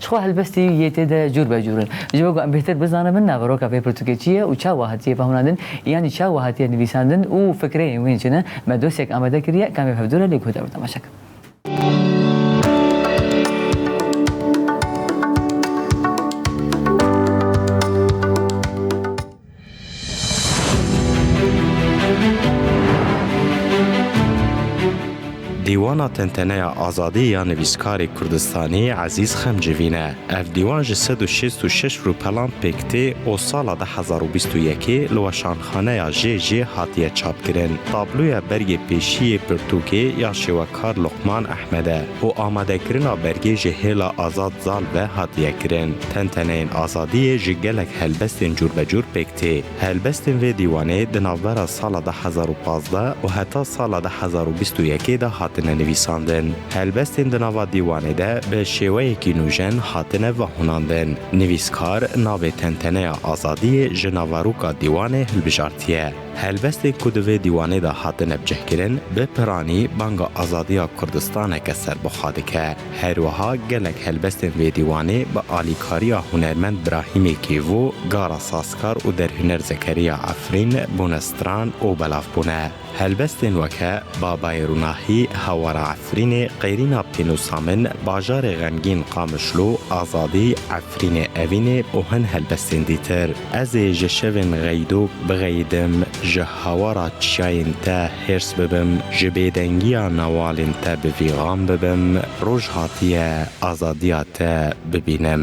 Çixwe helbestî yê tê de cûr be cûr in. Ji bo ku em bêhtir bizanibin naveroka vê pirtûkê çi ye û çawa hatiye fehmnandin yanî çawa hatiye nivîsandin û fikreyên wê çi ne, me dosyek amade kiriye kamê bi hevdû re lê guh de bi temaşe kirin. Dîwana tenteneya azadî ya nivîskarê Kurdistanî Ezîz Xemcivîn e. Ev dîwan ji sed û şêst û şeş rûpelan pêk tê û sala du hezar û bîst û yekê li weşanxaneya JJ hatiye çapkirin. Tabloya bergê pêşiyê pirtûkê ya şêwek Kar Luqman Ehmed e û amadekirina bergê ji Hêla Azad Zal ve hatiye kirin. Tenteneyên azadiyê ji gelek helbestên cûrbecûr pêk tê. Helbestên vê dîwanê di navbera sala du hezar û pazdeh û heta sala du hezar û bîst û yekê de hatine nivîsandin. Helbestên di nava dîwanê de bi şêweyekî nûjen hatine vehûnandin. Nivîskar navê Tenteneya Azadiyê ji naveroka dîwanê hilbijartiye. Helbestên ku di vê dîwanê de hatine bicihkirin, bi piranî banga azadiya Kurdistaneke serbixwe dike. Herwiha gelek helbestên vê dîwanê bi alîkariya hunermend Brahîmê Kêvo, Gara Sazkar û derhuner Zekeriya Efrîn bûne stran û belavbûne. Helbestên weke, Babayê Rûnahî, Hewara Efrînê, Qêrîna Pênûsa Min, Bajarê Xemgîn Qamişlo, Azadî, Efrînê Evînê û hin helbestên dîtir. Ez ê ji şevên xeydok bixeyidim, ji hawara çiyayên te hêrs bibim, ji bêdengiya newalên te bi vîgan bibim, roj hatiye azadiya te bibînim.